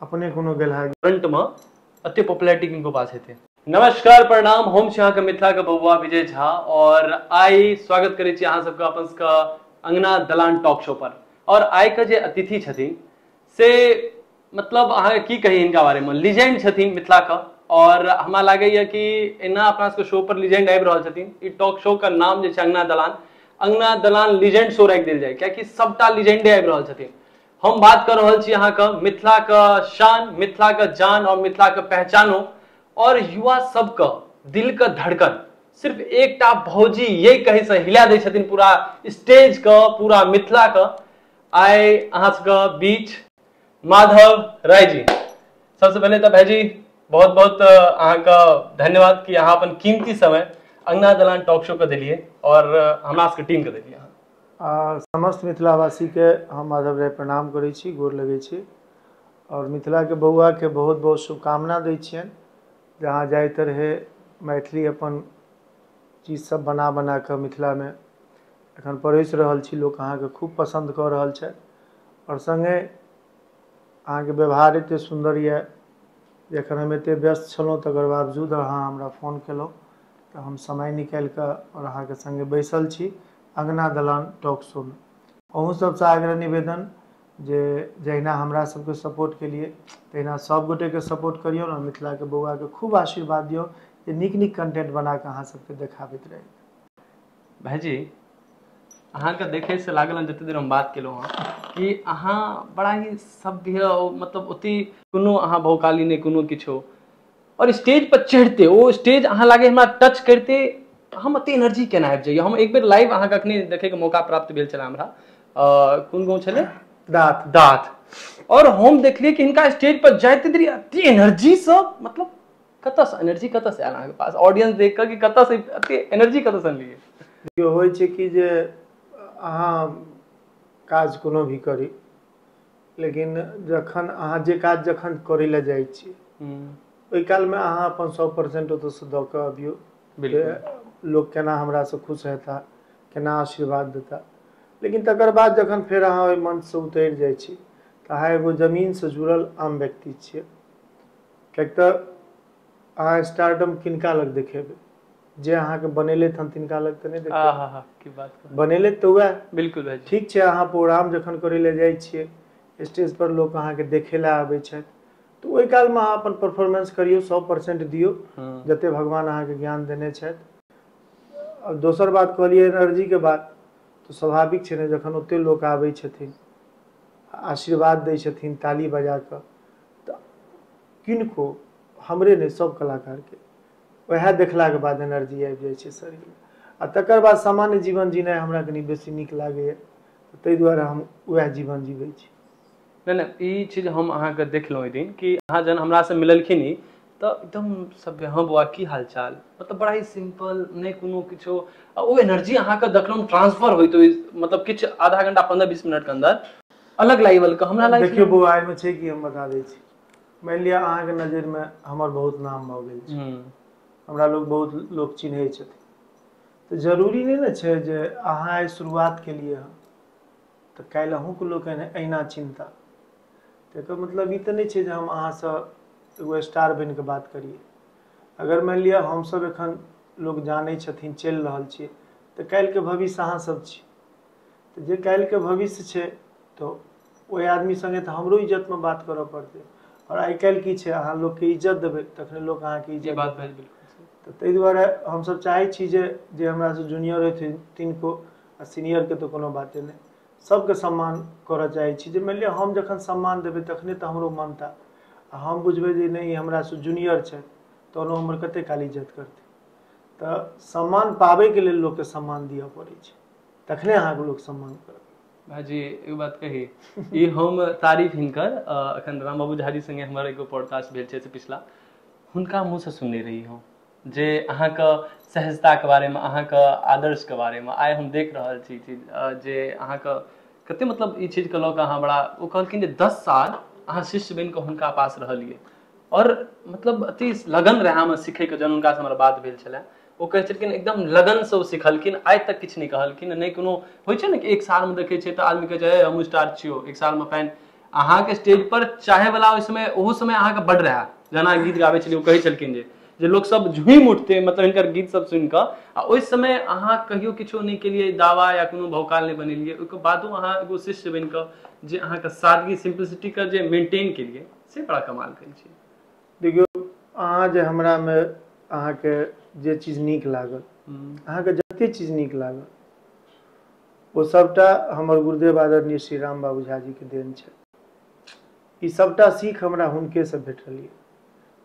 अपने कोनो गेलहा गे। फ्रंट मे अते पॉपुलैरिटी किनको पास हेतै। नमस्कार प्रणाम हम छी अहाँ के मिथिला के बबुआ विजय झा और आइ स्वागत करै छी अहाँ सब के अपन सब के अंगना दलान टॉक शो पर और आइ के जे अतिथि छथिन से मतलब अहाँ के की कही इनका बारे में लीजेंड छथिन मिथिला के और हमरा लागे या कि एना अपना सब के शो पर लीजेंड आबि रहल छथिन ई टॉक शो के नाम जे छै अंगना दलान अंगना दलान लीजेंड शो राखि देल जाय कियाकि सबटा लीजेंडे आबि रहल छथिन हम बात कर रहल छी अहाँके मिथिलाके शान मिथिलाके जान आओर मिथिलाके पहचानो आओर युवा सबके दिलके धड़कन सिर्फ एकटा भौजी ये कहैसँ हिला दै छथिन पूरा स्टेजके पूरा मिथिलाके आइ अहाँ सबके बीच माधव राय जी सबसे पहले तऽ भाईजी बहुत बहुत अहाँके धन्यवाद कि अहाँ अपन कीमती समय अंगना दलान टॉक शो के देलिए और हमरा सबके टीम के देलिए आ समस्त मिथिलावासीके हम आदब रही प्रणाम करै छी गोर लगै छी आओर मिथिलाके बौआके बहुत बहुत शुभकामना दै छियनि जहाँ जाय ततहु मैथिली अपन चीजसभ बना बना कऽ मिथिलामे एखन परसि रहल छी लोक अहाँके खूब पसन्द कऽ रहल छथि आओर सङ्गे अहाँके व्यवहार एतेक सुन्दर यए जे एखन हम एतेक व्यस्त छलहुँ तकर बावजूद अहाँ हमरा फोन कयलहुँ तऽ हम समय निकालि कऽ आओर अहाँके सङ्गे बैसल छी अँगना दलान टॉक शो मे अहूँ सबसँ आग्रह निवेदन जे जहिना हमरा सबके सपोर्ट केलियै तहिना सब गोटेके सपोर्ट करियौ ने मिथिलाके बौआके खूब आशीर्वाद दियौ जे नीक नीक कन्टेन्ट बनाकऽ अहाँ सबके देखाबैत रही भाइजी अहाँके देखैसँ लागल हँ जतेक देर हम बात केलहुँ हँ कि अहाँ बड़ा ही सभ्य मतलब ओते कोनो अहाँ भौकाली नहि कोनो किछो आओर स्टेज पर चढ़िते ओ स्टेज अहाँ लागे हमरा टच करिते हम एते एनर्जी केना आबि जाइया हम एक बेर लाइव अहाँके अखने देखैके मौका प्राप्त भेल छले हमरा कोन गाँव छलै दाँत दाँत आओर हम देखलियै कि हिनका स्टेज पर जाइते देरी एते एनर्जीसँ मतलब कतऽसँ एनर्जी कतऽसँ आयल अहाँके पास ऑडियंस देख कऽ कि कतऽसँ एते एनर्जी कतऽसँ अनलियै देखियौ होइ छै कि जे अहाँ काज कोनो भी करी लेकिन जखन अहाँ जे काज जखन करै लए जाइ छी हूँ ओहि काल मे अहाँ अपन सौ परसेंट ओतऽ सँ दऽ कऽ अबियौ जे बिलकुल लोक केना हमरा सँ खुश हेताह केना आशीर्वाद देताह लेकिन तकर बाद जखन फेर अहाँ ओहि मंच सँ उतरि जाइ छी तऽ अहाँ एगो जमीन सँ जुड़ल आम व्यक्ति छियै किएक तऽ अहाँ स्टारडम किनका लग देखेबै जे अहाँके बनेलथि हन तिनका लग तऽ नहि आ देखबै हा हा की बात कहै बनेलथि तऽ उएह बिल्कुल भाइजी ठीक छै अहाँ प्रोग्राम जखन करै लए जाइ छियै स्टेज पर लोक अहाँके देखै लए आबै छथि तऽ ओहि कालमे अहाँ अपन परफोर्मेंस करियौ सौ परसेन्ट दियौ हूँ जते भगवान अहाँके ज्ञान देने छथि दोसर बात कहलियै एनर्जी के बात तऽ स्वाभाविक छै ने जखन ओते लोक आबै छथिन आशीर्वाद दै छथिन ताली बजा कऽ तऽ किनको हमरे नहि सभ कलाकारके उएह देखलाके बाद एनर्जी आबि जाइ छै शरीरमे आ तकर बाद सामान्य जीवन जीनाइ हमरा कनि बेसी नीक लागैए ताहि दुआरे हम उएह जीवन जीबै छी नहि नहि ई चीज हम अहाँके देखलहुँ ओहि दिन कि अहाँ जहन हमरासँ मिललखिन ई तऽ एकदम सभ्य हँ बौआ की हाल चाल मतलब बड़ा ही सिंपल नहि कोनो किछो आ ओ एनर्जी अहाँके देखलहुँ ट्रांसफर होइत ओहि मतलब किछु आधा घंटा पंद्रह बीस मिनटके अंदर अलग लाइवलके हमरा लाइफ देखियौ बौआ एहिमे छै कि हम बता दै छी मानि लिअ अहाँके नजरिमे हमर बहुत नाम भऽ गेल छै हूँ हमरा लोग बहुत लोक चिन्है छथिन तऽ जरूरी नहि ने छै जे अहाँ आइ शुरुआत केलियै हँ तऽ काल्हि अहूँके लोक एना अहिना चिन्हता तऽ एकर मतलब ई तऽ नहि छै जे हम अहाँसँ एगो स्टार बनि कऽ बात करियै अगर मानि लिअ हमसभ एखन लोक जानै छथिन चलि रहल छियै तऽ काल्हिके भविष्य अहाँसभ छी तऽ जे काल्हिके भविष्य छै तऽ ओहि आदमी सङ्गे तऽ हमरो इज्जतमे बात करऽ पड़तै आओर आइ काल्हि की छै अहाँ लोकके इज्जत देबै तखने लोक अहाँके ई इज्जत बात देतै भेल बिलकुल सही तऽ ताहि दुआरे हमसभ चाहै छी जे जे हमरासँ जूनियर हेथिन तिनको आ सीनियरके तऽ कोनो बाते नहि सभके सम्मान करय चाहै छी जे मानि लिअ हम जखन सम्मान देबै तखने तऽ हमरो मानता आ हम बुझबै जे नहि ई हमरासँ जूनियर छथि तहन ओ हमर कतेक काल इज्जत करतै तऽ सम्मान पाबयके लेल लोककेँ सम्मान दिअ पड़ै छै तखने अहाँके लोक सम्मान करत भाजी एगो बात कही ई हम तारीफ हिनकर अ, अखन राम बाबू झाजी संगे हमर एगो पॉडकास्ट भेल छै से पिछला हुनका मुँह से सुनने रही हम जे अहाँके सहजताके बारेमे अहाँके आदर्शके बारेमे आइ हम देख रहल छी ई चीज अ, जे अहाँके कते मतलब ई चीजके लऽ कऽ अहाँ बड़ा ओ कहलखिन जे दस साल अहाँ शिष्य बनि कऽ हुनका पास रहलियै आओर मतलब अति लगन रहै हमर सिखैके जहन हुनकासँ हमर बात भेल छलै ओ कहै छलखिन एकदम लगनसँ ओ सिखलखिन आइ तक किछु नहि कहलखिन नहि कोनो होइ छै ने कि एक सालमे देखै छै तऽ आदमी कहै छै "ए, हमहूँ स्टार छियौ एक सालमे फैन अहाँके स्टेज पर चाहे वाला ओहि समय ओहो समय अहाँके बड रहए जेना गीत गाबै छलियै ओ कहै छलखिन जे जे लोक सब झूमि उठते मतलब हिनकर गीत सब सुनि कऽ आ ओहि समय अहाँ कहियो किछो नहि केलियै दावा या कोनो भौकाल नहि बनेलियै ओहिके बादो अहाँ एगो शिष्य बनि कऽ जे अहाँके सादगी सिम्प्लिसिटीके जे मेंटेन केलियै से बड़ा कमाल करै छै देखियौ अहाँ जे हमरा मे अहाँके जे चीज नीक लागल अहाँके जते चीज नीक लागल ओ सभटा हमर गुरुदेव आदरणीय श्री राम बाबू झा जी के देन छैन ई सभटा सीख हमरा हुनके सँ भेटल य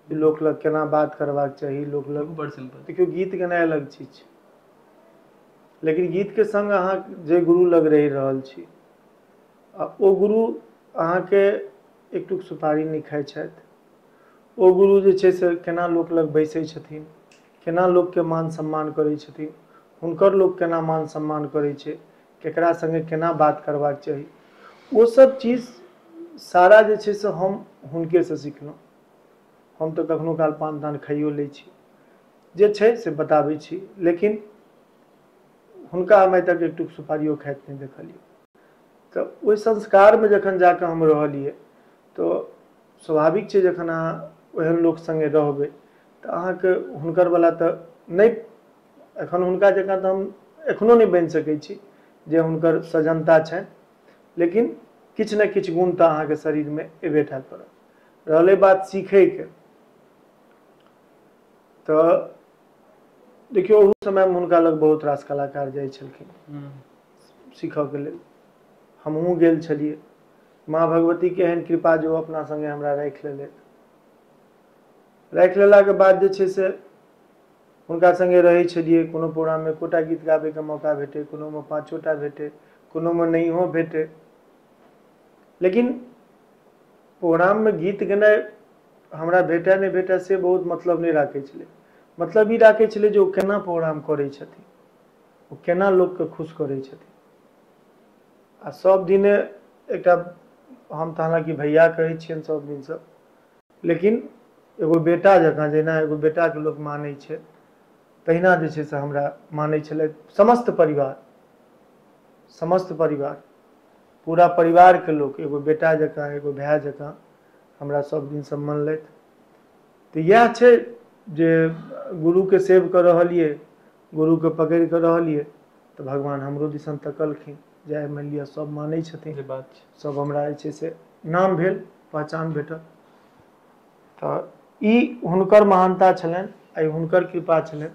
कि लोक लग केना बात करबाक चाही लोक लग बड़ सिंपल देखियौ गीत गेनाइ अलग चीज छै लेकिन गीत के संग अहाँ जे गुरु लग रहि रहल छी आ ओ गुरु अहाँके एकटुक सुपारी नहि खाइ छथि ओ गुरु जे छै से केना लोक लग बैसै छथिन केना लोकके मान सम्मान करै छथिन हुनकर लोक केना मान सम्मान करै छै केकरा संगे केना बात करबाक चाही ओ सब चीज सारा जे छै से हम हुनके सँ सिखलहुँ हम तऽ कखनो काल पान तान खाइयो लै छी जे छै से बताबै छी लेकिन हुनका हम आइ तक एकटुक सुपारियो खाइत नहि देखलियै तऽ ओहि संस्कारमे जखन जा कऽ हम रहलियै तऽ स्वाभाविक छै जखन अहाँ ओहन लोक संगे रहबै तऽ अहाँके हुनकर वला तऽ नहि एखन हुनका जकाँ तऽ हम एखनो नहि बनि सकै छी जे हुनकर सजन्ता छनि लेकिन किछु ने किछु गुण तऽ अहाँके शरीरमे अयबे टा करत रहलै बात सीखयके तऽ देखियौ ओहू समयमे हुनका लग बहुत रास कलाकार जाइ छलखिन हूँ सीखयके लेल हमहूँ गेल छलियै माँ भगवतीके एहन कृपा जे ओ अपना संगे हमरा राखि लेलथि राखि लेलाके बाद जे छै से हुनका संगे रहै छलियै कोनो प्रोग्राम मे एकोटा गीत गाबैके मौका भेटै कोनोमे पाँचोटा भेटै कोनोमे नहियो भेटै लेकिन प्रोग्राममे गीत गेनाइ हमरा भेटए नहि भेटए से बहुत मतलब नहि राखै छलै मतलब ई राखै छलै जे ओ केना प्रोग्राम करै छथिन ओ केना लोककेँ खुश करै छथिन आ सभ दिने एकटा हम तऽ हालाँकि भैया कहै छियनि सभ दिनसँ लेकिन एगो बेटा जकाँ जहिना एगो बेटाके लोक मानै छै तहिना जे छै से हमरा मानै छलै समस्त परिवार समस्त परिवार पूरा परिवारके लोक एगो बेटा जकाँ एगो भाय जकाँ हमरा सभ दिनसँ मनलथि तऽ इएह छै जे गुरुके सेव कऽ रहलियै गुरुके पकड़ि कऽ रहलियै तऽ भगवान हमरो दिसन तकलखिन जे आइ मानि लिअ सभ मानै छथिन जे बात छै सभ हमरा जे छै से नाम भेल पहचान भेटल तऽ ई हुनकर महानता छलनि आइ हुनकर कृपा छलनि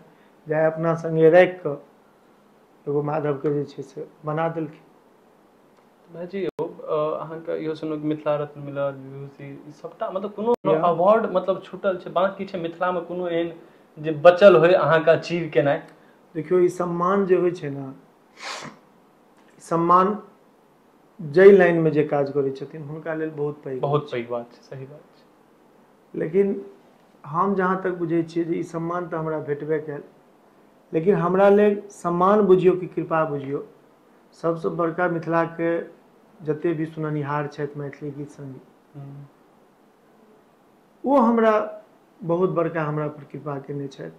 जे आइ अपना संगे राखि कऽ एगो माधवके जे छै से बना देलखिन भाइजी यौ अहाँके इहो सुनू मिथिला रत्न मिलल विभूषि ई सभटा मतलब कोनो किया अवार्ड मतलब छुटल छै बाँकी छै मिथिलामे कोनो एहन जे बचल होय अहाँके अचीव केनाइ देखियौ ई सम्मान जे होइ छै ने सम्मान जाहि लाइनमे जे काज करै छथिन हुनका लेल बहुत पैघ होइ बहुत पैघ बात छै सही बात छै लेकिन हम जहाँ तक बुझै छियै जे ई सम्मान तऽ हमरा भेटबे कयल लेकिन हमरा लेल सम्मान बुझियौ कि कृपा बुझियौ सभसँ बड़का मिथिलाके जतेक भी सुननिहार छथि मैथिली गीत संगीत हूँ ओ हमरा बहुत बड़का हमरा पर कृपा कयने छथि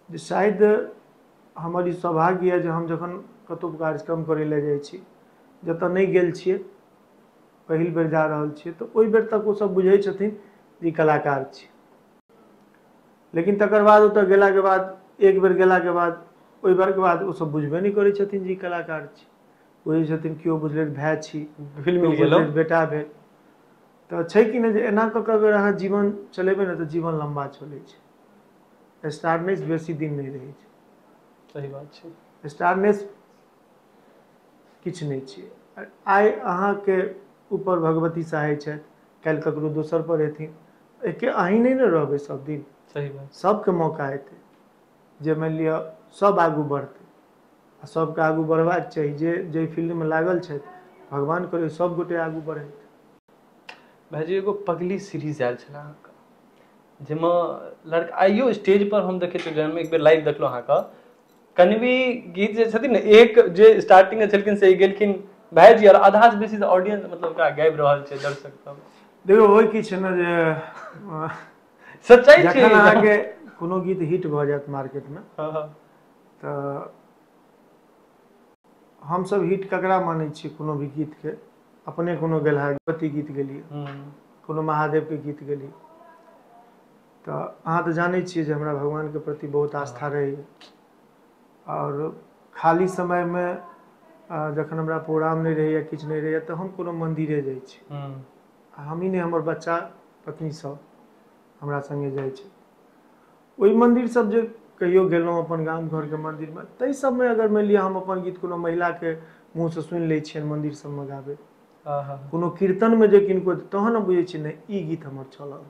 जे शायद हमर ई सौभाग्य यऽ जे हम जखन कतहु कार्यक्रम करय लए जाइ छी जतय नहि गेल छियै पहिल बेर जा रहल छियै तऽ ओहि बेर तक ओसभ बुझै छथिन जे ई कलाकार छी लेकिन तकर बाद ओतय गेलाके बाद एक बेर गेलाके बाद ओहि बेरके बाद ओसभ बुझबे नहि करै छथिन जे ई कलाकार छी बुझै छथिन केओ बुझलथि भाय छी फिल्म केओ गेलहुँ बुझलथि बेटा भेल तऽ छै कि नहि जे एना कऽ कऽ अगर अहाँ जीवन चलेबै ने तऽ जीवन लम्बा चलै छै स्टारनेस बेसी दिन नहि रहै छै सही बात छै स्टारनेस किछु नहि छियै आइ अहाँके ऊपर भगवती सहाय छथि काल्हि ककरो दोसर पर हेथिन एके अहीं नहि ने रहबै सब दिन सही बात सभके मौका एतै जे मानि लिअ सभ आगू बढ़तै आ सभके आगू बढ़बाक चाही जे जाहि फील्डमे लागल छथि भगवान करै सभगोटे आगू बढ़ैत भाइजी एगो पगली सीरीज आयल छले अहाँके जाहिमे लड़का आइयो स्टेज पर हम देखै छियै जाहिमे एक बेर लाइव देखलहुँ अहाँके कनवी गीत जे छथिन ने एक जे स्टार्टिंग मे छलखिन से गेलखिन भायजी आओर आधा से बेसी ऑडियंस मतलब ओकरा गाबि रहल छै दर्शक सब देखौ होइ की छै ने जे सच्चाइ छै जखन अहाँके कोनो गीत हिट भऽ जायत मार्केटमे हँ हँ तऽ हमसभ हिट ककरा मानै छियै कोनो भी गीतके अपने कोनो गेलहा भगवती गीत गेलियै हूँ कोनो महादेवके गीत गेलियै तऽ अहाँ तऽ जानै छियै जे हमरा भगवानके प्रति बहुत आस्था रहैए आओर खाली समयमे आ जखन हमरा प्रोग्राम नहि रहैए किछु नहि रहैए तऽ हम कोनो मन्दिरे जाइ छी हूँ आ हमही ने हमर बच्चा पत्नी सब हमरा संगे जाइ छै ओहि मन्दिर सब जे कहियो गेलहुँ अपन गाम घरके मन्दिरमे ताहि सबमे अगर मानि लिअ हम अपन गीत कोनो महिलाके मुँहसँ सुनि लै छियनि मन्दिर सबमे गाबैत हँ हँ कोनो कीर्तनमे जे किनको तहन हम बुझै छियै नहि ई गीत हमर चलल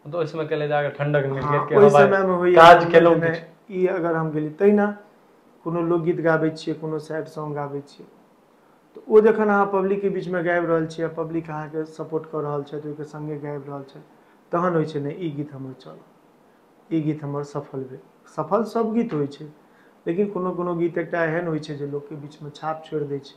तो ओहि समय केले जाके ठंडक मिल हँ, के ओहि हवा समय मे होइया काज ठंडक केलहुँ मे किछु ई अगर हम गेली तहिना कोनो लोकगीत गाबै छियै कोनो सैड सॉग गाबै छियै तऽ ओ जखन अहाँ पब्लिक के बीच मे गाबि रहल छीयै आ पब्लिक अहाँ के सपोर्ट कऽ रहल छैथ ओहि के संगे गाबि रहल छैथ तहन होइ छै ने ई गीत हमर चलऽ ई गीत हमर सफल भेल सफल सभ गीत होइ छै लेकिन कोनो कोनो गीत एकटा एहन होइ छै जे लोक के बीच मे छाप छोड़ि दै छै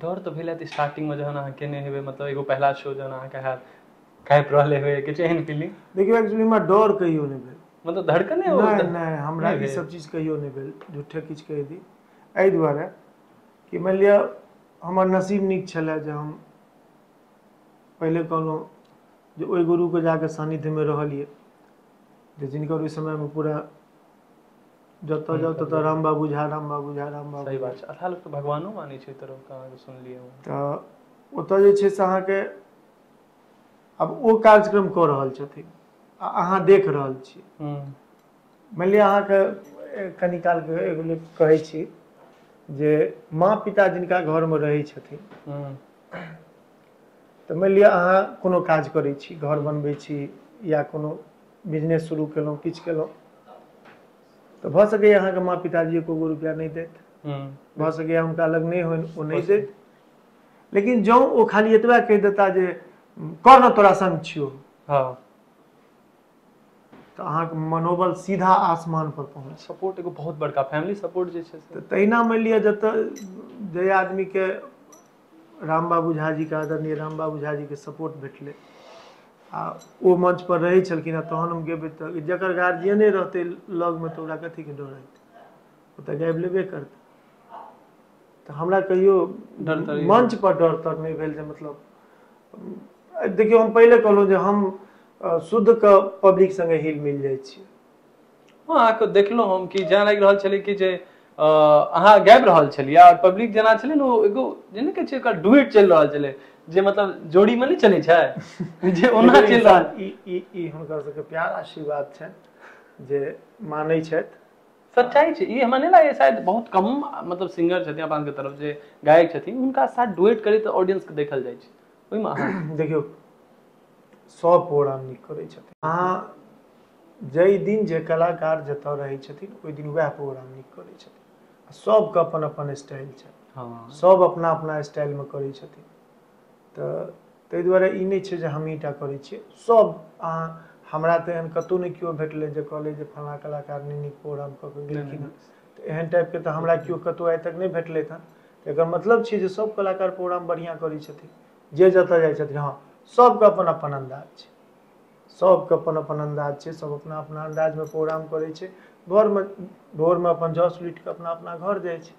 डर तऽ भेल हैत स्टार्टिंगमे जहन अहाँ केने हेबै मतलब एगो पहिला शो जहन अहाँके हैत काँपि रहल हेबै किछु एहन फीलिंग देखियौ एक्चुअली हमरा डर कहियो नहि भेल मतलब धड़कने ओ नहि तऽ- नहि हमरा नहि ई भेल। सब चीज कहियो नहि भेल झूठे किछु कहि दी एहि दुआरे कि मानि लिअ हमर नसीब नीक छलए जे हम पहिले कहलहुँ जे ओहि गुरुके जाकऽ सान्निध्यमे रहलियै जे जिनकर ओहि समयमे पूरा जतऽ जाउ ततऽ राम बाबू झा राम बाबू झा राम बाबू सही झा बात छै आधा लोक तऽ भगवानो मानै छै एतऽ लोक अहाँके सुनलियै हँ तऽ ओतऽ जे छै से अहाँके आब ओ कार्यक्रम कऽ रहल छथिन आ अहाँ देख रहल छी हूँ मानि लिअ अहाँके ए कनि कालके एगो लेल कहै छी जे माँ पिता जिनका घरमे रहै छथिन हूँ तऽ मानि लिअ अहाँ कोनो काज करै छी घर बनबै छी या कोनो बिजनेस शुरू केलहुँ किछु केलहुँ तऽ भऽ सकैए अहाँके माँ पिताजी एको गो रुपैआ नहि देत हूँ भऽ सकैए हुनका लग नहि होनि ओ नहि देत लेकिन जँ ओ खाली एतबा कहि देता जे कर ने तोरा संग छियौ हँ तऽ अहाँके मनोबल सीधा आसमान पर पहुँच सपोर्ट एगो बहुत बड़का फैमिली सपोर्ट जे छै से तऽ तहिना मानि लिअ जतऽ जाहि आदमीके राम बाबू झा जी के आदरणीय राम बाबू झा जी के सपोर्ट भेटलै आ ओ मंच पर रहै छलखिन हँ तहन हम गेबै तऽ जकर गार्जियने रहतै लगमे तऽ ओकरा कथी के डर हेतै ओ तऽ गाबि लेबे करतै तऽ हमरा कहियो डर तर ई नहि मंच पर डर तर नहि भेल जे मतलब देखियौ हम पहिले कहलहुँ जे हम शुद्धके पब्लिक संगे हिल मिल जाइ छियै हँ अहाँके देखलहुँ हम कि जेना लागि रहल छलै कि जे अ अहाँ गाबि रहल छलियै आर पब्लिक जेना छलै ने ओ एगो जे ने कहै छै ओकर डुवेट चलि रहल छलै जे मतलब जोड़ी मे नहि चलै छै जे ओना चलि रहल ई हुनकर सबके प्यार आशीर्वाद छनि जे मानै छथि सच्चाइ छै ई हमरा नहि लागै शायद बहुत कम मतलब सिंगर छथिन अपन के तरफ जे गायक छथिन हुनका साथ डुवेट करै तऽ ऑडियंस के देखल जाइ छै ओहिमे अहाँ देखियौ सब प्रोग्राम नीक करै छथिन अहाँ जाहि दिन जे कलाकार जतय रहै छथिन ओहि दिन वएह प्रोग्राम नीक करै छथिन आ सभके अपन अपन स्टाइल छनि हँ सभ अपना अपना स्टाइलमे करै छथिन तऽ ताहि दुआरे ई नहि छै जे हमही टा करै छियै सभ अहाँ हमरा तऽ एहन कतहु नहि केओ भेटलै जे कहलै जे फल्लाँ कलाकार नहि नीक प्रोग्राम कऽ कऽ गेलखिन हँ तऽ एहन टाइपके तऽ हमरा केओ कतहु आइ तक नहि भेटलै हँ तऽ एकर मतलब छै जे सभ कलाकार प्रोग्राम बढ़िआँ करै छथिन जे जतय जाइ छथिन हँ सभके अपन अपन अन्दाज छै सबके अपन अपन अन्दाज छै सब अपना अपना अन्दाजमे प्रोग्राम करै छै घरमे भोरमे अपन जस उठि कऽ अपना अपना घर जाइ छै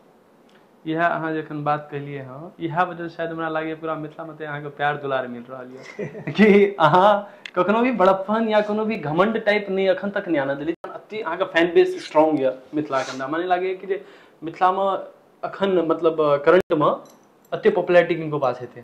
इएह अहाँ जे एखन बात केलियै हँ इएह वजह शायद हमरा लागैए पूरा मिथिलामे तऽ अहाँके प्यार दुलार मिल रहल यऽ कि अहाँ कखनो भी बड़प्पन या कोनो भी घमंड टाइप नहि अखन तक नहि आना देली अति अहाँके फैन बेस स्ट्रॉन्ग यऽ मिथिलाके हमरा माने लागैए कि जे मिथिलामे अखन मतलब करंटमे अते पॉपुलरिटी किनको पास हेतै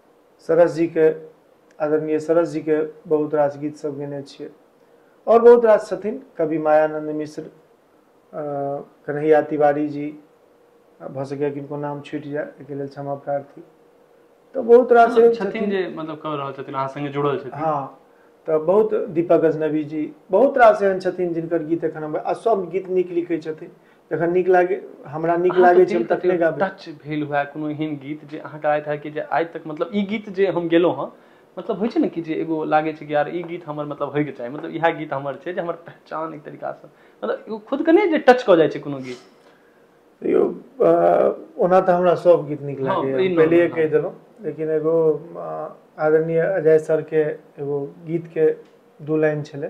सरस जी के आदरणीय सरस जी के बहुत रास गीत सब गेने छियै और बहुत रास छथिन कवि मायानंद मिश्र कन्हैया तिवारी जी भऽ सकैए किनको नाम छूटि जाय एहिके लेल क्षमा प्रार्थी तऽ बहुत रास मतलब छथिन छथिन जे मतलब कऽ रहल छथिन अहाँ संगे जुड़ल छथिन हँ तऽ बहुत दीपक गजनवी जी बहुत रास एहन छथिन जिनकर गीत एखन हम आ सब गीत नीक लिखै छथिन जखन नीक लागे हमरा नीक अहाँके लागै छै दिल हम कतहियो तखने गाबी टच भेल हुए कोनो एहन गीत जे अहाँके आइत हैत कि जे आइ तक मतलब ई गीत जे हम गेलौं हँ मतलब होइ छै ने कि जे एगो लागै छै कि यार ई गीत हमर मतलब होयके चाही मतलब इएह गीत हमर छै जे हमर पहचान एक तरीका सँ मतलब एगो खुद के नै जे टच कऽ जाइ छै कोनो गीत तैयौ अ ओना तऽ हमरा सब गीत नीक हँ लागैए ई हम नॉर्मल पहिलेहे हँ कैह देलौं लेकिन एगो अ आदरणीय अजय सर के एगो गीत के दू लाइन छलै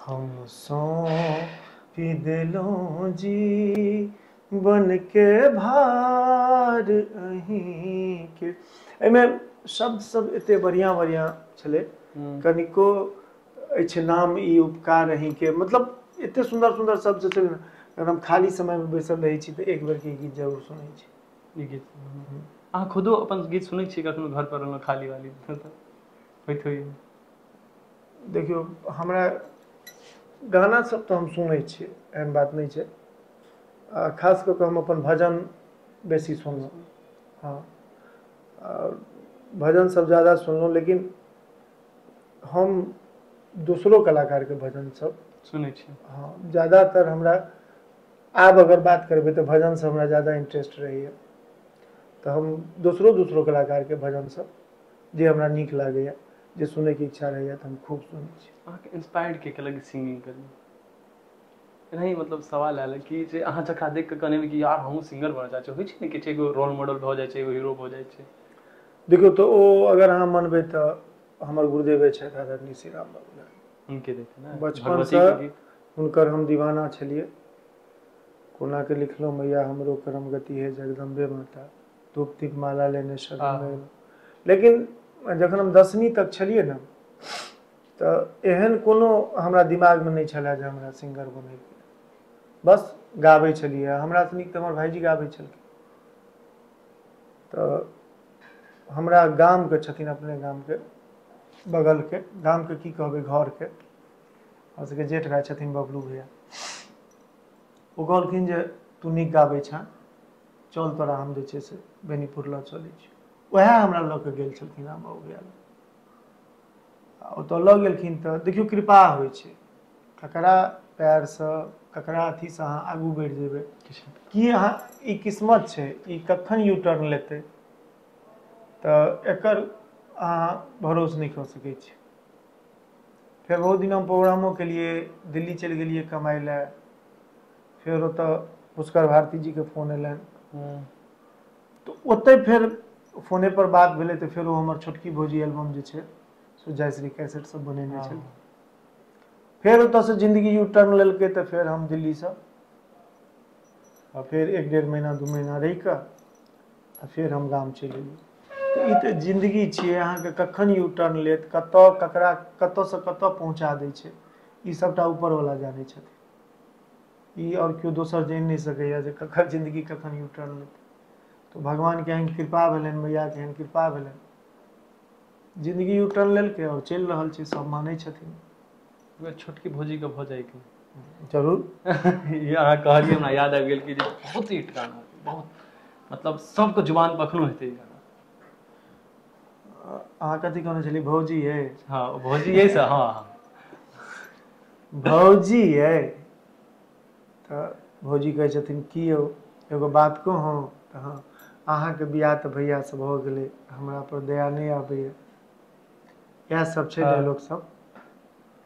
हम सौंपि देलहुँ जीवनके भार अहींके एहिमे शब्द सब एते बढ़िआँ बढ़िआँ छलै कनिको अछि नाम ई उपकार अहींके मतलब एते सुन्दर सुन्दर शब्द सब छलै ने अगर हम खाली समयमे बैसल रहै छी तऽ एक बेरके ई गीत जरूर सुनै छी ई गीत अहाँ खुदो अपन गीत सुनै छियै कखनो घर पर रहलहुँ खाली वाली तऽ होइत होइए देखियौ हमरा गाना सब तऽ हम सुनै छियै एहन बात नहि छै आ खास कऽ कऽ हम अपन भजन बेसी सुनलहुँ हँ आ भजन सभ ज्यादा सुनलहुँ लेकिन हम दोसरो कलाकारके भजन सभ सुनै छियै हँ ज्यादातर हमरा आब अगर बात करबै तऽ भजन सभ हमरा ज्यादा इंटरेस्ट रहैए तऽ हम दोसरो दोसरो कलाकारके भजन सभ जे हमरा नीक लागैए जे सुनैके इच्छा रहैए तऽ हम खूब सुनै छी अहाँके इन्स्पायर्ड के केलक सिंगिंग करै लए एनाही मतलब सवाल आयल कि जे अहाँ जकरा देख कऽ कहने कि यार हमहूँ सिंगर बनऽ चाहै छी होइ छै ने किछु एगो रोल मॉडल भऽ जाइ छै एगो हीरो भऽ जाइ छै देखियौ तऽ ओ अगर अहाँ मनबै तऽ हमर गुरुदेवे छथि आदरणीय श्री राम बाबू लाल हुनके देखियौ ने बचपनसँ भगवतीके गीत हुनकर हम दीवाना छलियै कोनाके लिखलहुँ मैया हमरो करम गति हे जगदम्बे माता धूप दीप माला लेने छल हँ लेकिन जखन हम दसमी तक छलियै ने तऽ एहन कोनो हमरा दिमागमे नहि छलए जे हमरा सिंगर बनयके बस गाबै छलियै हमरासँ नीक तऽ हमर भाइजी गाबै छलखिन तऽ हमरा गामके छथिन अपने गामके बगलके गामके की कहबै घरके हमरा सभके जेठ भाय छथिन बबलू भैया ओ कहलखिन जे तू नीक गाबै छँ चल तोरा हम जे छै से बेनीपुर लऽ चलै छी उएह हमरा लऽ कऽ गेल छलखिन हँ बौआ आ ओतय लऽ गेलखिन तऽ देखियौ कृपा होइ छै ककरा पएरसँ ककरा अथीसँ अहाँ आगू बढ़ि जेबै की अहाँ ई किस्मत छै ई कखन यू टर्न लेतै तऽ एकर अहाँ भरोस नहि कऽ सकै छी फेर बहुत दिन हम प्रोग्रामो केलियै दिल्ली चलि गेलियै कमाइ लए फेर ओतऽ पुष्कर भारती जी के फोन एलैन हूँ तऽ ओतै फेर फोने पर बात भेलै तऽ फेर ओ हमर छोटकी भौजी एलबम जे छै से जय श्री कैसेट सब बनेने हँ छेलखिन फेर ओतऽ सँ जिन्दगी यू टर्न लेलकै तऽ फेर हम दिल्ली सँ आ फेर एक डेढ़ महीना दू महीना रहि कऽ आ फेर हम गाम चलि एलियै तऽ ई तऽ जिन्दगी छियै अहाँ के कखन यू टर्न लेत कतऽ ककरा कतऽ सँ कतऽ पहुँचा दै छै ई सबटा ऊपर वला जानै छथिन ई आओर केओ दोसर जानि नहि सकैए जे ककर जिन्दगी कखन यू टर्न लेतै तऽ भगवानके एहन कृपा भेलनि मैयाके एहन कृपा भेलनि जिन्दगी यू टर्न लेलकै आओर चलि रहल छै सभ मानै छथिन उएह छोटकी भौजीके भऽ जाइके जरूर ई अहाँ कहलियै हमरा याद आबि गेल कि जे बहुत हिट गाना बहुत मतलब सभके जुबान पर एखनो हेतै ई गाना अहाँ कथी कहने छलियै भौजी यै हँ भौजी अइ से हँ हँ भौजी यै तऽ भौजी कहै छथिन की यौ एगो बात कहू तऽ हँ अहाँके बियाह तऽ भैया से भऽ गेलै हमरा पर दया नहि आबैया इएह सब छै डायलॉग सब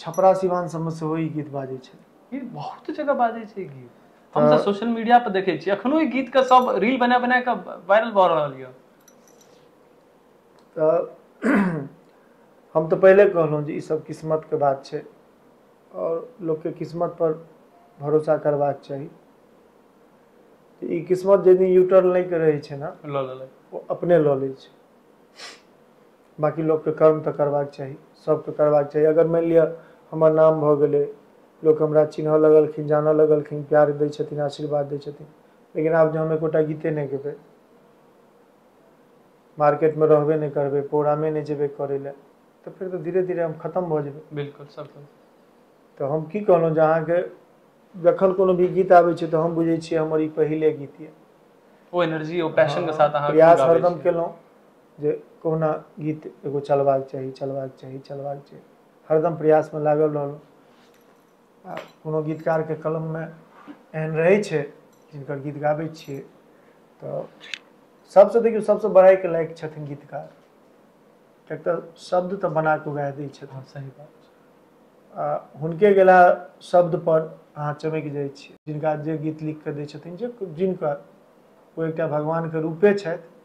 छपरा सिवान सब मे सेहो ई गीत बाजै छै। ई बहुत जगह बाजै छै गीत, हम तऽ सोशल मीडिया पर देखै छियै अखनो ई गीत के सब रील बना बना कऽ वायरल भऽ रहल यऽ। तऽ हम तऽ पहिले कहलहुँ जे ई सब किस्मत के बात छै। और लोक के किस्मत पर भरोसा करबाक चाही। तऽ ई किस्मत जै दिन यूटर्न लै के रहै छै ने लऽ लेलक ओ अपने लऽ लै छै। बाँकी लोकके कर्म तऽ करबाक चाही सभके करबाक चाही अगर मानि लिअ हमर नाम भऽ गेलै लोक हमरा चिन्हऽ लगलखिन जानऽ लगलखिन प्यार दै छथिन आशीर्वाद दै छथिन लेकिन आब जे हम एकोटा गीते नहि गेबै मार्केटमे रहबे नहि करबै प्रोग्रामे नहि जेबै करै लए तऽ फेर तऽ धीरे धीरे हम खतम भऽ जेबै बिल्कुल सर तऽ हम की कहलहुँ जे अहाँके जखन कोनो भी गीत आबै छै तऽ हम बुझै छियै हमर ई पहिले गीत यए ओ एनर्जी ओ पैशन के साथ अहाँ प्रयास गाबै हरदम छियै। केलहुँ जे कहुना गीत एगो चलबाक चाही चलबाक चाही चलबाक चाही हरदम प्रयासमे लागल रहलहुँ आ कोनो गीतकारके कलममे एहन रहै छै जिनकर गीत गाबै छियै तऽ सभसँ देखियौ सभसँ बड़ाइके लायक छथिन गीतकार किएक तऽ शब्द तऽ बना कऽ उएह दै छथिन हँ सही बात छै आ हुनके गेला शब्दपर अहाँ चमकि जाइ छियै जिनका जे गीत लिखि कऽ दै छथिन जे जिनकर ओ एकटा भगवानके रूपे छथि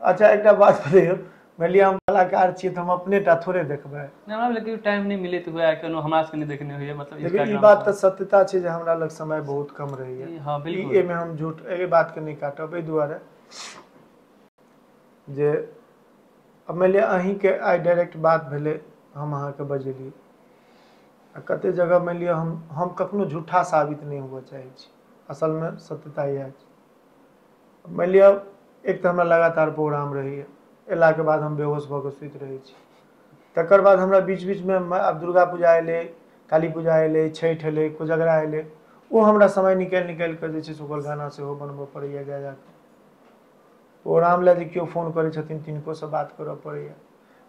अच्छा एकटा बात कहियो मानि लिअ हम कलाकार छियै तऽ हम अपने टा थोड़े देखबै नहि हमरा लेकिन टाइम नहि मिलैत हुए कोनो हमरा सबके नहि देखने होइए मतलब देखियौ ई Instagram बात पर। तऽ सत्यता छै जे हमरा लग समय बहुत कम रहैया ई- हँ, ई बिल्कुल। एहिमे हम झूठ एहि बातके नहि काटब एहि दुआरे जे आब मानि लिअ अहीँके आइ डाायरेक्ट बात भेलै हम अहाँके बजेलियै आ कते जगह मानि लिअ हम हम कखनो झूठा साबित नहि हुअ चाहै छी असलमे सत्यता इएह छै मानि लिअ एक तऽ हमरा लगातार प्रोग्राम रहैए अयलाके बाद हम बेहोश भऽ कऽ सुति रहै छी तकर बाद हमरा बीच बीचमे आब दुर्गा पूजा एलै काली पूजा एलै छठि एलै कोजगरा एलै ओ हमरा समय निकालि निकालि कऽ जे छै से ओकर गाना सेहो बनबय पड़ैए जा जा कऽ प्रोग्राम लए जे केओ फोन करै छथिन तिनकोसँ बात करय पड़ैए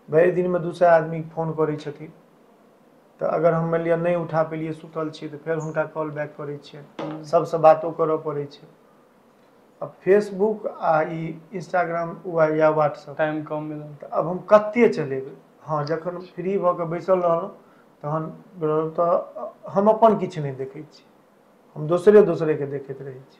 भरि दिनमे दू सए आदमी फोन करै छथिन तऽ अगर हम मानि लिअ नहि उठा पेलियै सुतल छियै तऽ फेर हुनका कॉल बैक करै छियै हूँ सभसँ बातो करऽ पड़ै छै आ फेसबुक आ ई इंस्टाग्राम वा या व्हाट्सअप टाइम कम मिलल तऽ आब हम कते चलेबै हँ जखन फ्री भऽ कऽ बैसल रहलहुँ तहन तऽ हम अपन किछु नहि देखै छी हम दोसरे दोसरे के देखैत रहै छी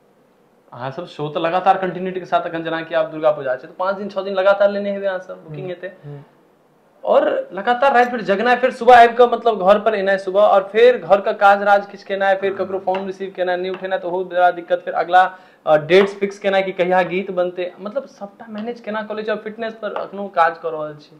अहाँ सब शो तऽ लगातार कन्टिन्यूटी के साथ अखन जेनाकि आब दुर्गा पूजा छै तऽ पाँच दिन छओ दिन लगातार लेने हेबै अहाँ सब बुकिंग हूँ हेतै हूँ आओर लगातार राति भरि जगनाइ फेर सुबह आबि कऽ मतलब घर पर एनाइ सुबह आओर फेर घर के काज राज किछ केनाइ फेर ककरो फोन रिसीव केनाइ नहि उठेनाइ तऽ ओहो बड़ा दिक्कत फेर अगिला डेट्स फिक्स केनाइ कि कहिया गीत बनतै मतलब सभटा मैनेज केना कऽ लै छी आओर फिटनेस पर एखनो काज कऽ रहल छी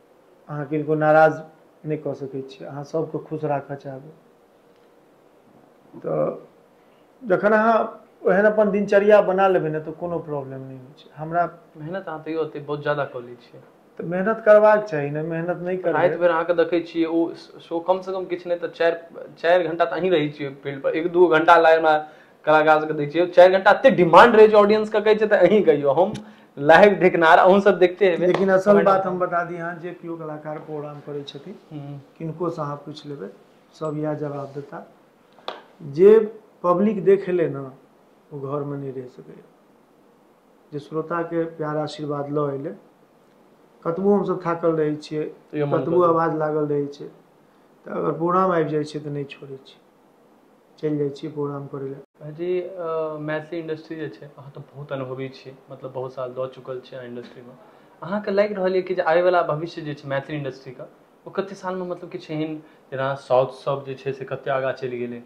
अहाँ किनको नाराज नहि कऽ सकै छी अहाँ सभके खुश राखय चाहबै तऽ जखन अहाँ ओहन अपन दिनचर्या बना लेबै ने तऽ कोनो प्रॉब्लम नहि होइ छै हमरा मेहनत अहाँ तैयो ओते बहुत ज्यादा कऽ लै छियै तऽ मेहनत करबाक चाही ने मेहनत नहि करबै राति बेर अहाँके देखै छियै ओ शो कमसँ कम किछु नहि तऽ चारि चारि घण्टा तऽ अहीं रहै छियै फील्डपर एक दू घण्टा लागै हमरा कलाकार सबके देखै छियै चारि घंटा एते डिमांड रहै छै ऑडियंस के कहै छै तऽ अहीं कहियो हम लाइव देखनार अहूँ सब देखते हेबै लेकिन असल Comment- बात हम बता दी अहाँ जे केओ कलाकार प्रोग्राम करै छथिन हम्म, किनको से अहाँ पूछि लेबै सब इएह जवाब देता जे पब्लिक देख एलै ने ओ घरमे नहि रहि सकैए जे श्रोताके प्यार आशीर्वाद लऽ एलै कतबो हमसभ थाकल रहै छियै तैयो मन कतबो करै। आवाज लागल रहै छै तऽ अगर प्रोग्राम आबि जाइ छै तऽ नहि छोड़ै छी चलि जाइ छियै प्रोग्राम करै लए भाइजी मैथिली इंडस्ट्री जे छै अहाँ तऽ बहुत अनुभवी छियै मतलब बहुत साल दऽ चुकल छियै अहाँ इंडस्ट्रीमे अहाँके लागि रहल यऽ कि जे आबैवला भविष्य जे छै मैथिली इंडस्ट्रीके ओ कते सालमे मतलब किछु एहन जेना साउथ सब जे छै से कते आगाँ चलि गेलै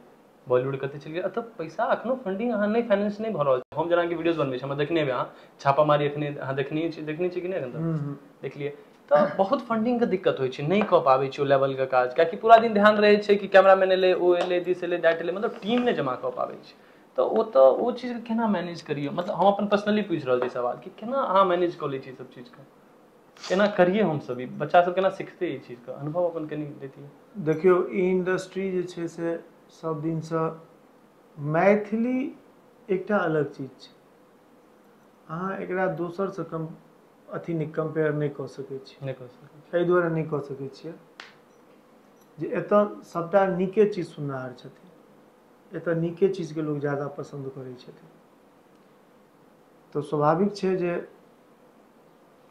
बॉलीवुड कते चलि गेलै एतऽ पैसा एखनो फंडिंग अहाँ नहि फाइनेंस नहि भऽ रहल छै हम जेनाकि वीडियोज बनबै छी हमरा देखने हेबै अहाँ छापामारी एखने अहाँ देखनहिये छियै देखने छियै कि नहि एखन तक देखलियै तऽ बहुत फंडिंग के दिक्कत होइ छै नहि कऽ पाबै छै ओ लेवल के काज कियाकि पूरा दिन ध्यान रहै छै कि कैमरा मैन एलै ओ एलै दिस एलै दैट एलै मतलब टीम नहि जमा कऽ पाबै छै तऽ ओ तऽ ओ चीज केना मैनेज करियौ मतलब हम अपन पर्सनली पूछि रहल छी सवाल कि केना अहाँ मैनेज कऽ लै छियै ई सब चीज के केना करियै हमसभ ई बच्चा सभ केना सिखतै ई चीज के अनुभव अपन कनि देतियै देखियौ ई इंडस्ट्री जे छै से सभ दिन सँ मैथिली एकटा अलग चीज छै अहाँ एकरा दोसर सँ कम अथी नहि कम्पेयर नहि कऽ सकै छी नहि कऽ सकै एहि दुआरे नहि कऽ सकै छियै जे एतय सभटा नीके चीज सुननिहार छथिन एतय नीके चीजके लोक ज्यादा पसन्द करै छथिन तऽ स्वाभाविक छै जे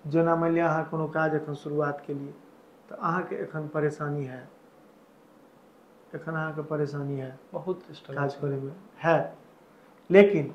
जेना मानि लिअ अहाँ कोनो काज एखन शुरुआत केलियै तऽ अहाँके एखन परेशानी हएत एखन अहाँके परेशानी हएत बहुत स्ट्रगल काज करैमे हएत लेकिन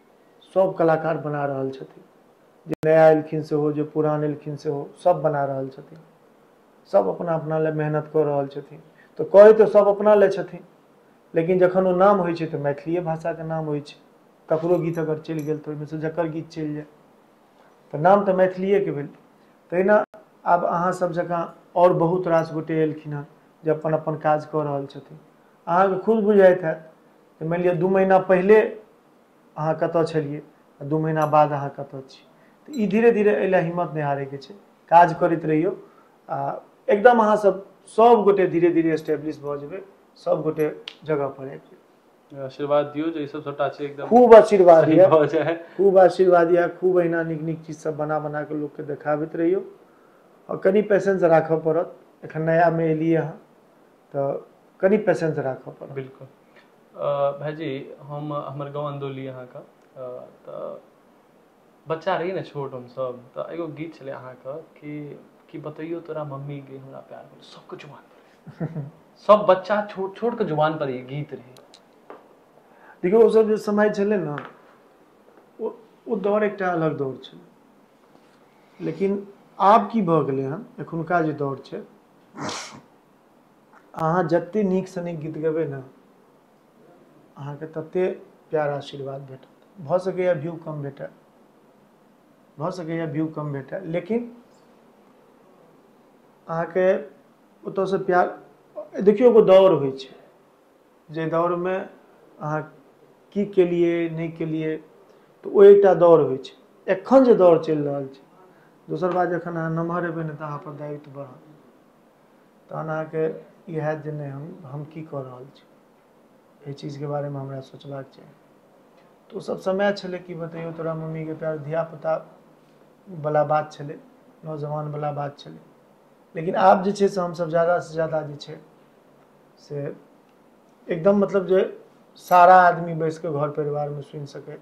सभ कलाकार बना रहल छथिन जे नया एलखिन सेहो जे पुरान एलखिन सेहो सभ बना रहल छथिन सभ अपना अपना लए मेहनत कऽ रहल छथिन तऽ कहै तऽ सभ अपना लए छथिन लेकिन जखन ओ नाम होइ छै तऽ मैथिलीए भाषाके नाम होइ छै ककरो गीत अगर चलि गेल तऽ ओहिमेसँ जकर गीत चलि जाय तऽ नाम तऽ मैथिलीएके भेल तहिना आब अहाँसभ जकाँ आओर बहुत रास गोटे एलखिन हेँ जे अपन अपन काज कऽ रहल छथिन अहाँकेँ खुद बुझाइत हएत जे मानि लिअ दू महीना पहिले अहाँ कतऽ छलियै आ दू महीना बाद अहाँ कतऽ छी तऽ ई धीरे धीरे एहि लए हिम्मत नहि हारैके छै काज करैत रहियौ आ एकदम अहाँ सब सब गोटे धीरे धीरे एस्टेब्लिश भऽ जेबै सब गोटे जगह पर आबि जेबै आशीर्वाद दियौ जे ई सब सबटा छै एकदम खूब आशीर्वाद सही यऽ भऽ जाय खूब आशीर्वाद यऽ खूब अहिना नीक नीक चीज सब बना बना कऽ लोकके देखाबैत रहियौ आओर कनि पेशेंस राखऽ पड़त एखन नयामे एलियै हँ तऽ कनि पेशेंस राखऽ पड़त बिल्कुल भाइजी हम हमर गाँव अन्दौली अहाँके तऽ बच्चा रही ने छोट हमसब तऽ एगो गीत छलै अहाँके कि कि बतैयो तोरा मम्मी गे हमरा प्यार करो सबके जुबान पर सब बच्चा छोट छोट के जुबान पर ई गीत रहै देखियौ ओ सब जे समय छलै ने ओ ओ दौर एकटा अलग दौर छलै लेकिन आब की भऽ गेलै हन एखुनका जे दौर छै अहाँ जतेक नीकसँ नीक गीत गेबै ने अहाँके तते प्यार आशीर्वाद भेटत भऽ सकैए व्यू कम भेटय भऽ सकैए व्यू कम भेटय लेकिन अहाँके ओतयसँ प्यार देखियौ एगो दौड़ होइ छै जाहि दौड़मे अहाँ की केलियै नहि केलियै तऽ ओ एकटा दौड़ होइ छै एखन जे दौड़ चलि रहल छै दोसर बात जखन अहाँ नमहर हेबै ने तऽ अहाँपर दायित्व बढ़त तहन अहाँके ई हैत जे नहि हम हम की कऽ रहल छी एहि चीजके बारेमे हमरा सोचबाक चाही तऽ ओसभ समय छलै की बतैयौ तोरा मम्मीके प्यार धियापुता बला बात छलै नौजवान बला बात छलै लेकिन आब जे छै से हमसभ ज्यादासँ ज्यादा जे छै से एकदम मतलब जे सारा आदमी बैसि कऽ घर परिवारमे सुनि सकैत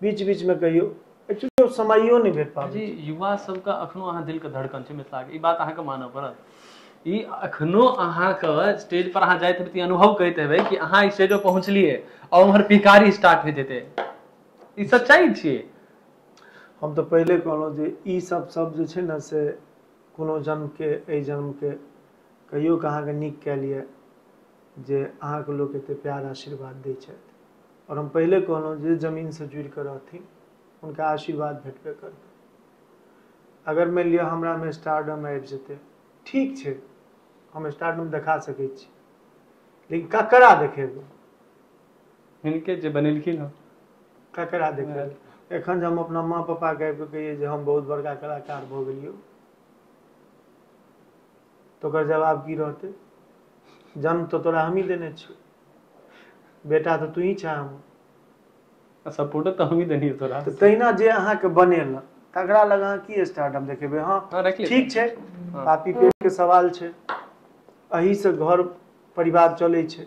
बीच बीच मे कहियौ एक्चुअली समयो नहि भेट पाबै जी छै युवा सबके अखनो अहाँ दिल के धड़कन छै मिथिला के ई बात अहाँके मानऽ पड़त ई एखनो अहाँके स्टेज पर अहाँ जाइत हेबै तऽ ई अनुभव करैत हेबै कि अहाँ स्टेज पर पहुँचलियै आ उम्हर पिकारी स्टार्ट होइत हेतै ई सच्चाइ छियै हम तऽ पहिले कहलहुँ जे ई सब सब जे छै ने से कोनो जन्मके एहि जन्मके कहियो कऽ अहाँके नीक कयल यऽ जे अहाँके लोक एते प्यार आशीर्वाद दै छथि आओर हम पहिले कहलहुँ जे जमीनसँ जुड़िकऽ रहथिन हुनका आशीर्वाद भेटबे करतनि अगर मानि लिअ हमरामे स्टारडम आबि जेतै ठीक छै हम स्टारडम देखा सकै छी लेकिन ककरा देखेबै हिनके जे बनेलखिन हँ ककरा देखेबै एखन जे हम अपना माँ पापाके आबि कऽ कहियै जे हम बहुत बड़का कलाकार भऽ गेलियौ तऽ ओकर जवाब की रहतै जन्म तऽ तोरा हमही देने छियौ बेटा तऽ तूही छे हमर। आ सपोर्ट तऽ हमही देलियौ तोरा। तऽ तहिना जे अहाँके बनेलक तकरा लग अहाँ की स्टार्डम देखेबै हँ राखि ले तऽ ठीक छै। हँ पापी पेट के सवाल छै एहिसँ घर परिवार चलै छै।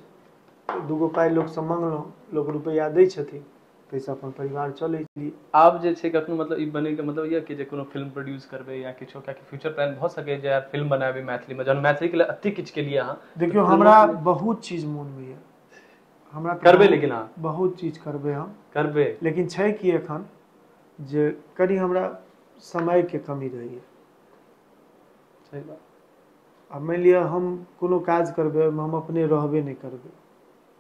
दूगो पाइ लोकसँ मङ्गलहुँ लोक रुपैआ दै छथिन। ताहिसँ अपन परिवार चलै छी आब जे छै कखनो मतलब ई बनैके मतलब यए कि जे कोनो फिल्म प्रोड्यूस करबै या किछो किएकि फ्यूचर प्लान भऽ सकैए जे आब फिल्म बनाबी मैथिलीमे जहन मैथिलीके लेल एतेक किछु केलियै अहाँ तऽ देखियौ फिल्मोके हमरा लेल बहुत चीज मोनमे यऽ हमरा तऽ करबै बहुत- लेकिन अहाँ बहुत चीज करबै हम करबै लेकिन छै कि एखन जे कनि हमरा समयके कमी रहैए सही बात आ मानि लिअ हम कोनो काज करबै ओहिमे हम अपने रहबे नहि करबै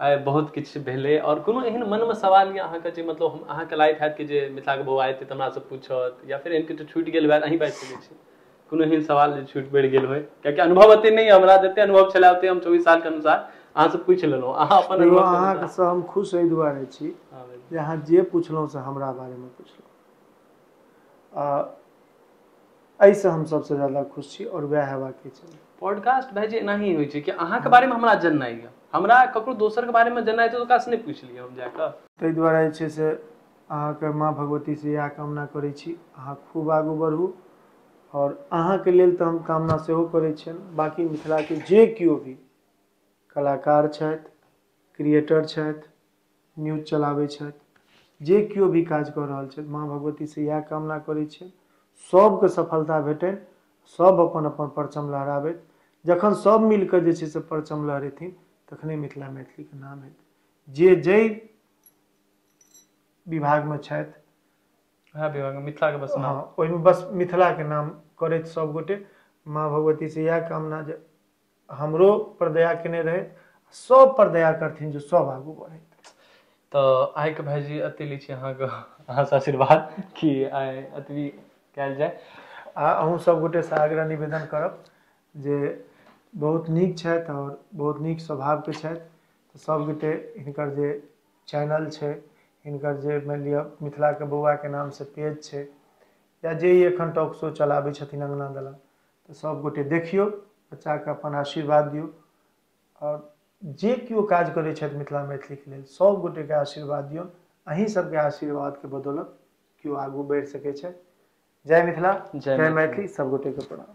आइ बहुत किछु भेलै आओर कोनो एहन मनमे सवाल यऽ अहाँके जे मतलब हम अहाँके लागैत हैत कि जे मिथिलाके बौआ एतै तऽ हमरासँ पूछत या फेर एहन किछु छूटि गेल होयत अहीं बाजि सकै छी कोनो एहन सवाल जे छूटि पड़ि गेल होय कियाकि अनुभव एते नहि यऽ हमरा जते अनुभव छलै ओते हम चौबीस सालके अनुसार अहाँसँ पूछि लेलहुँ अहाँ अपन देखियौ अनुभवके अनुसार- अहाँसँ हम खुश एहि दुआरे छी हँ, बिल्कुल। जे अहाँ जे पुछलहुँ से हमरा बारेमे पुछलहुँ आ एहिसँ हम सभसँ ज्यादा खुश छी आओर वएह हेबाके चाही पॉडकास्ट भाय जे एनाही होइ छै कि अहाँके हँ बारेमे हमरा जननाइ यऽ हमरा ककरो दोसरके बारेमे जेनाइ छै तऽ ओकरासँ नहि पुछि लिअ हम जा कऽ ताहि दुआरे जे छै से अहाँके माँ भगवतीसँ इएह कामना करै छी अहाँ खूब आगू बढ़ू आओर अहाँके लेल तऽ हम कामना सेहो करै छियनि बाँकी मिथिलाके जे केओ भी कलाकार छथि क्रिएटर छथि न्यूज चलाबै छथि जे केओ भी काज कऽ रहल छथि माँ भगवती से इएह कामना करै छियनि सबके सफलता भेटनि सब अपन अपन परचम लहराबथि जखन सब मिल कऽ जे छै से परचम लहरेथिन तखने मिथिला मैथिली के नाम हेतै जे जाहि विभाग मे छथि वएह विभाग मे मिथिला के बस हँ नाम ओहिमे बस मिथिला के नाम करथि सब गोटे माँ भगवती से इएह कामना जे हमरो पर दया केने रहैथ सब पर दया करथिन जे सब आगू बढ़ैथ तऽ आइके भायजी एते लै छी अहाँके अहाँसँ आशीर्वाद कि आइ एतबी कयल जाय आ अहूँ सभगोटेसँ आग्रह निवेदन करब जे बहुत नीक छथि आओर बहुत नीक स्वभावके छथि तऽ सभगोटे हिनकर जे चैनल छै हिनकर जे मानि लिअ मिथिलाके बौआके नामसँ पेज छै या जे ई एखन टॉक शो चलाबै छथिन अङ्गना दलान तऽ सब गोटे देखियौ बच्चा के अपन आशीर्वाद दियौ आओर जे केओ काज करै छथि मिथिला मैथिली के लेल सब गोटे के आशीर्वाद दियौ अहीं सब के आशीर्वाद के बदौलत केओ आगू बैढ़ सकै छैथ जय मिथिला जय मैथिली सब गोटे के प्रणाम